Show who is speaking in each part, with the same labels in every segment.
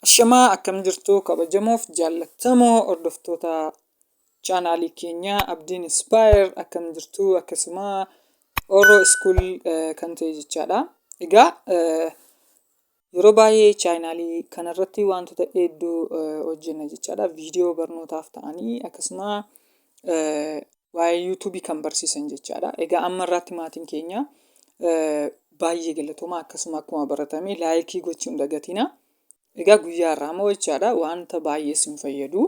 Speaker 1: Ashamaa akkam jirtu kabajamoof jaallattamoo hordoftoota chaanaalii keenya Abdiin Inspire akkam jirtu akkasuma Oro School kan ta'e jechaadha. Egaa Yeroo baay'ee chaayinaalii kanarratti wantoota hedduu hojjenna jechaadha. Viidiyoo barnootaaf ta'anii akkasuma waa'ee yuutuubii kan barsiisan jechaadha. Egaa amma irraatti maatiin keenya baay'ee galatooma akkasuma akkuma baratame laayikii gochuun dagatina. Egaa guyyaa irraa immoo jechaadha wanta baay'ee isin fayyadu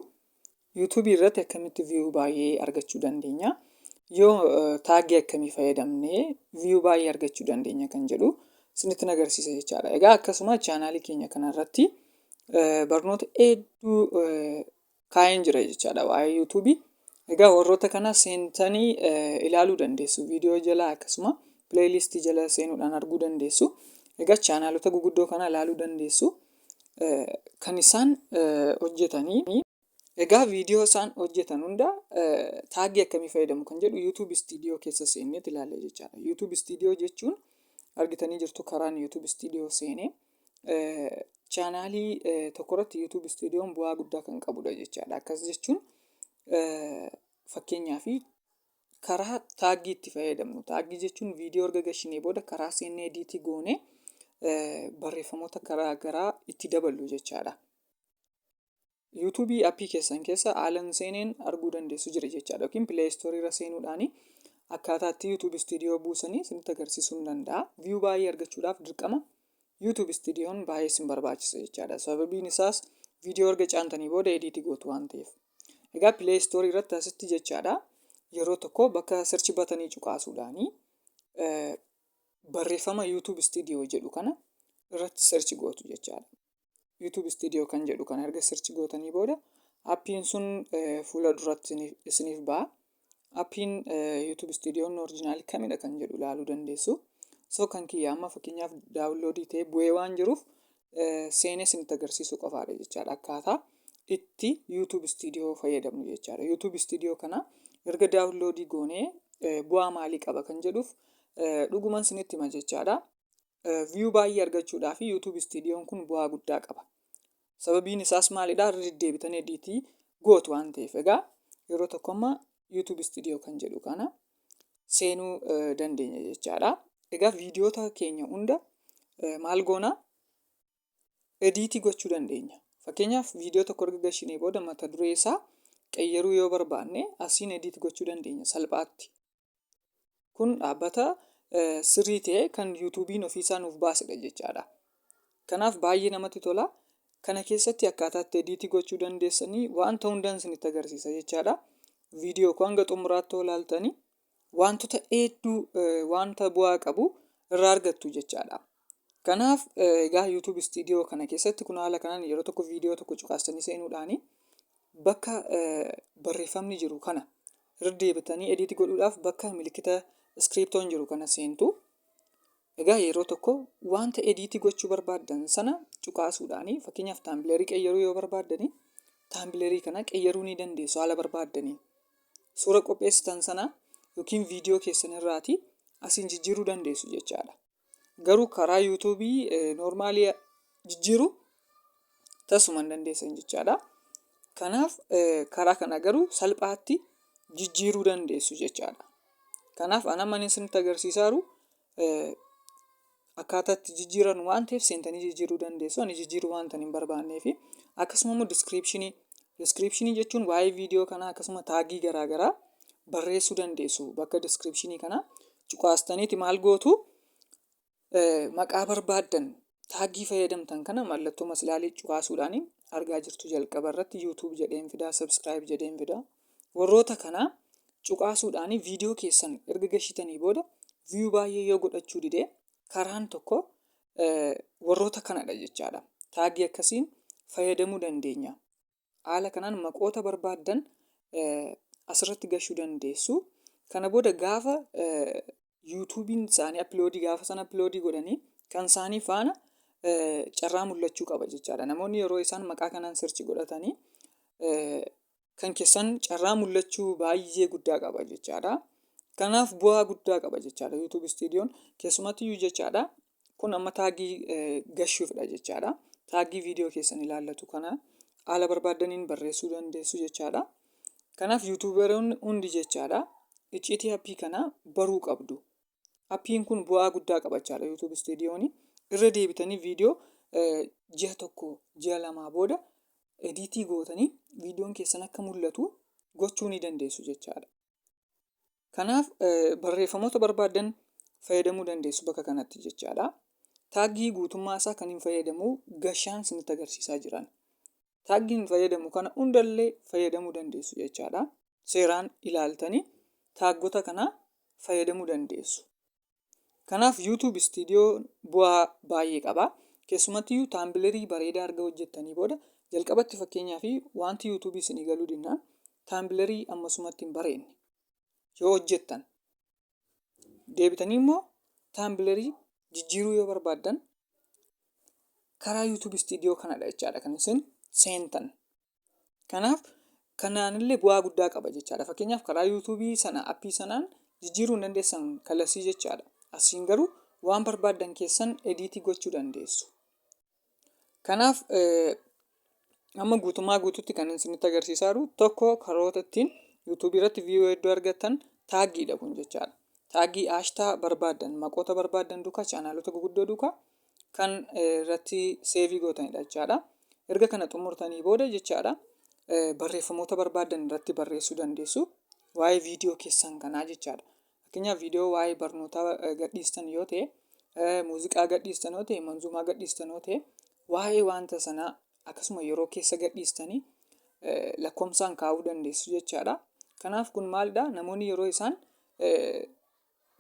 Speaker 1: YouTube irratti akkamitti view baay'ee argachuu dandeenya yoo taaggii akkamii fayyadamnee view baay'ee argachuu dandeenya kan jedhu isinitti agarsiisa jechaadha. Egaa akkasuma chaanaalii keenya kanarratti barnoota hedduu kaa'een jira jechaadha waa'ee YouTube. Egaa warroota kana seentanii ilaaluu dandeessu viidiyoo jala akkasuma pileeylistii jala seenuudhaan arguu dandeessu. Egaa chaanaalota guguddoo kana ilaaluu dandeessu. kan isaan hojjetanii. Egaa viidiyoo isaan hojjetan hunda taagii akkamii fayyadamu kan jedhu YouTube Studio keessa seennee ilaalla jechaadha. YouTube Studio jechuun argitanii jirtu karaan YouTube Studio seenee chaanaalii tokkorratti YouTube Studioon bu'aa guddaa kan qabudha jechaadha. Akkas jechuun fakkeenyaaf karaa taaggii itti fayyadamnu taaggii jechuun viidiyoo erga gashinee booda karaa seennee ediitii goone barreeffamoota karaa garaa itti daballu jechaadha. Yuutuubii appii keessan keessa haalan seeneen arguu dandeessu jira jechaadha yookiin pileestorii irra seenuudhaan akkaataa itti yuutuubi istiidiyoo buusanii isinitti agarsiisuu ni danda'a. Viyuu baay'ee argachuudhaaf dirqama yuutuubi istiidiyoon baay'ee isin barbaachisa jechaadha. Sababiin isaas viidiyoo erga caantanii booda ediitii gootu waan ta'eef. Egaa Play Store irratti asitti jechaadha yeroo tokko bakka search batanii cuqaasuudhaani eh, barreeffama YouTube Studio jedhu kana irratti search gootu jechaadha. YouTube Studio kan jedhu kana erga search gootanii booda appiin sun eh, fuula duratti isiniif- isiniif ba'a. Appiin YouTube Studio'n orjinaali kamidha kan jedhu ilaaluu dandeessu. So kan kiyya amma fakkeenyaaf daawunloodii ta'ee bu'ee waan jiruuf seenee isinitti agarsiisuu qofaadha jechaadha akkaataa itti YouTube Studio fayyadamnu jechaadha. YouTube Studio kana erga daawunloodii goonee bu'aa maalii qaba kan jedhuuf dhuguman isinitti hima jechaadha. viyuu baay'ee argachuudhaa fi YouTube Studiyoon kun bu'aa guddaa qaba. Sababiin isaas maalidha? Irra deddeebitan ediitii gootu waan ta'eef. Egaa yeroo tokko amma YouTube Studio kan jedhu kana seenuu dandeenya jechaadha. Egaa viidiyoota keenya hunda maal goona? Ediitii gochuu dandeenya. Fakkeenyaaf viidiyoo tokko erga gashinee booda mata duree isaa qeyyaruu yoo barbaanne asiin ediit gochuu dandeenya salphaatti. Kun dhaabbata sirrii ta'e kan yuutuubiin ofiisaa nuuf baasedha jechaadha. Kanaaf baay'ee namatti tola. Kana keessatti akkaataa itti ediitii gochuu dandeessanii wanta hundaan isinitti agarsiisa jechaadha. Viidiyoo koo hanga xumuraatti yoo ilaaltanii wantoota hedduu wanta bu'aa qabu irraa argattu jechaadha. Kanaaf egaa YouTube studio kana keessatti kun haala kanaan yeroo tokko viidiyoo tokko cuqaastanii seenuudhaan bakka barreeffamni jiru kana irra deebitanii ediitii godhuudhaaf bakka milikkita iskiriiptoon jiru kana seentu. Egaa yeroo tokko wanta ediitii gochuu barbaaddan sana cuqaasuudhaan fakkeenyaaf taambileerii qeyyaruu yoo barbaaddanii taambileerii kana qeyyaruu ni dandeessu haala barbaaddaniin. Suura qopheessitan sana yookiin viidiyoo keessan irraatii asiin jijjiiruu dandeessu jechaadha. Garuu karaa YouTube normaalii jijjiiru tasuma hin dandeessan jechaadha. Kanaaf karaa kana garuu salphaatti jijjiiruu dandeessu jechaadha. Kanaaf ana manin isinitti agarsiisaa jiru akkaataa itti jijjiiranu waan ta'eef seentanii jijjiiruu dandeessu. Ani jijjiiruu waan hin barbaanneefi. Akkasuma immoo diskiripshinii diskiripshinii jechuun waa'ee viidiyoo kanaa akkasuma taagii garaa garaa barreessuu dandeessu bakka diskiripshinii kanaa. cuqaastaniiti maal gootu maqaa barbaaddan taaggii fayyadamtan kana mallattoo maslaalii cuqaasuudhaan argaa jirtu jalqaba irratti yuutuub jedheen fidaa sabskiraayib jedheen fidaa warroota kana cuqaasuudhaan viidiyoo keessan erga gashitanii booda viiyuu baay'ee yoo godhachuu didee karaan tokko warroota kanadha jechaadha taaggii akkasiin fayyadamuu dandeenya Haala kanaan maqoota barbaaddan asirratti gashuu dandeessu. Kana booda gaafa yuutuubiin isaanii appiloodii gaafa sana appiloodii godhanii kan isaanii faana carraa mul'achuu qaba jechaadha. Namoonni yeroo isaan maqaa kanaan sirchi godhatanii kan keessan carraa mul'achuu baay'ee guddaa qaba jechaadha. Kanaaf bu'aa guddaa qaba jechaadha YouTube Studio'n keessumattiyyuu jechaadha Kun amma taagii gashuufidha jechaadha. Taagii viidiyoo keessan ilaallatu kana haala barbaaddaniin barreessuu dandeessu jechaadha. Kanaaf yuutuubaroonni hundi jechaadha icciitii appii kana baruu qabdu. Appiin kun bu'aa guddaa qabachaadha yuutuub istuudiyooni. Irra deebitanii viidiyoo ji'a tokko ji'a lamaa booda ediitii gootanii viidiyoon keessan akka mul'atu gochuu ni dandeessu jechaadha. Kanaaf barreeffamoota barbaaddan fayyadamuu dandeessu bakka kanatti jechaadha. Taaggii guutummaa isaa kan hin fayyadamu gashaan isinitti agarsiisaa jiran. Taaggii hin fayyadamu kana hundallee fayyadamuu dandeessu jechaadha. Seeraan ilaaltanii taaggota kana fayyadamuu dandeessu. Kanaaf YouTube Studio bu'aa baay'ee qaba. Keessumattiyyuu taambilerii bareedaa erga hojjettanii booda jalqabatti fakkeenyaaf wanti YouTube isinii galuu dinnaan taambilerii ammasumatti hin bareedne yoo hojjettan deebitanii immoo taambilerii jijjiiruu yoo barbaaddan karaa YouTube Studio kanadha jechaadha kan isin seentan. Kanaaf kanaanillee bu'aa guddaa qaba jechaadha. Fakkeenyaaf karaa yuutuubii sana appii sanaan jijjiiruu hin dandeessan kallattii jechaadha. Asiin garuu waan barbaaddan keessan ediitii gochuu dandeessu. Kanaaf amma guutummaa guututti kan isinitti agarsiisaa jiru tokko karoota ittiin yuutuubii irratti viiyuu hedduu argattan taaggiidha kun jechaadha. Taaggii haashtaa barbaaddan maqoota barbaaddan duukaa chaanaalota guguddoo duukaa kan irratti seevii gootanidha jechaadha. Erga kana xumurtanii booda jechaadha barreeffamoota barbaadan irratti barreessuu dandeessu. Waa'ee viidiyoo keessan kanaa jechaadha. Fakkeenyaaf viidiyoo waa'ee barnootaa gadhiistan yoo ta'e, muuziqaa gadhiistan yoo ta'e, manzuumaa gadhiistan yoo ta'e, waa'ee wanta sanaa akkasuma yeroo keessa gadhiistanii lakkoofsaan kaa'uu dandeessu jechaadha. Kanaaf kun maalidha? Namoonni yeroo isaan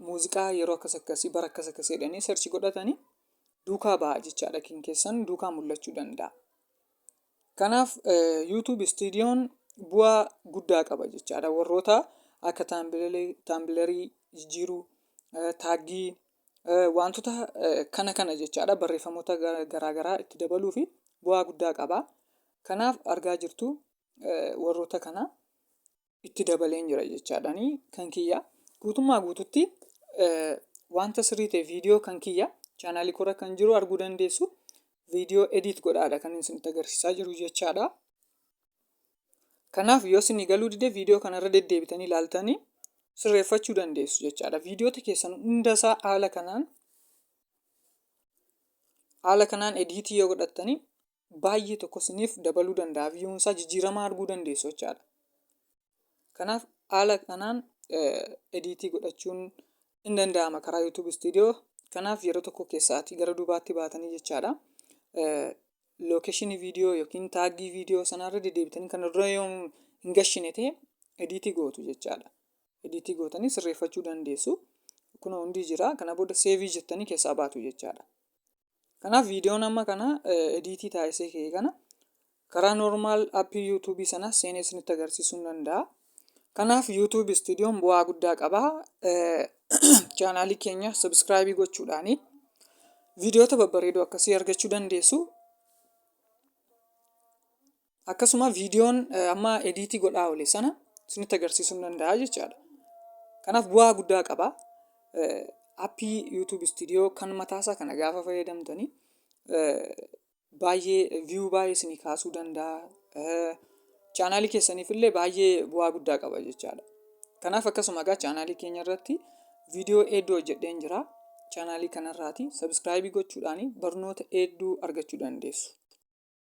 Speaker 1: Muuziqaa yeroo akkas akkasii bara akkas akkasii jedhanii search godhatanii duukaa ba'a jechaadha kin keessan duukaa mul'achuu danda'a. Kanaaf eh, YouTube Studio'n bu'aa guddaa qaba jechaadha warroota akka taambilarii taambilarii jijjiiruu eh, taaggii eh, wantoota eh, kana kana jechaadha barreeffamoota gara- garaagaraa itti dabaluu fi bu'aa guddaa qaba. Kanaaf argaa jirtu eh, warroota kana itti dabaleen jira jechaadhani kan kiyya guutummaa guututti wanta sirrii ta'e viidiyoo kan kiyya chaanaalii kora kan jiru arguu dandeessu viidiyoo ediit godhaadha kan isinitti agarsiisaa jiru jechaadha. Kanaaf yoo isinii galuu dide viidiyoo kanarra deddeebitanii ilaaltanii sirreeffachuu dandeessu jechaadha. Viidiyoota keessan hundasaa haala kanaan haala kanaan ediitii yoo godhattanii baay'ee tokko isiniif dabaluu danda'a viyuun isaa jijjiiramaa arguu dandeessu jechaadha. Kanaaf haala kanaan ediitii godhachuun in danda'ama karaa YouTube Studio. Kanaaf yeroo tokko keessaatii gara duubaatti baatanii jechaadha. Lookeeshinii viidiyoo yookiin taaggii viidiyoo sanarra deddeebitanii kan irra yoo hin gashine ta'e ediitii gootu jechaadha. Ediitii gootanii sirreeffachuu dandeessu. Kun hundi jira. Kana booda seevii jettanii keessaa baatu jechaadha. Kanaaf viidiyoon amma kana ediitii taasisee ka'e kana karaa normaal appii yuutuubii sana seenee isinitti agarsiisuu nan danda'a. Kanaaf yuutuubi istuudiyoon bu'aa guddaa qaba. Chaanaalii keenya sabiskiraayibii gochuudhaani viidiyoota babbareedoo akkasii argachuu dandeessu. akkasuma viidiyoon amma ediitii godhaa oole sana isinitti agarsiisuu ni danda'a jechaadha. Kanaaf bu'aa guddaa qaba. Appii YouTube Studio kan mataasaa kana gaafa fayyadamtanii baay'ee viyuu baay'ee isinii kaasuu danda'a. Chaanaalii keessaniif illee baay'ee bu'aa guddaa qaba jechaadha. Kanaaf akkasuma egaa chaanaalii keenya irratti viidiyoo hedduu hojjedheen jira. Chaanaalii kanarraati sabiskiraayibii gochuudhaan barnoota hedduu argachuu dandeessu.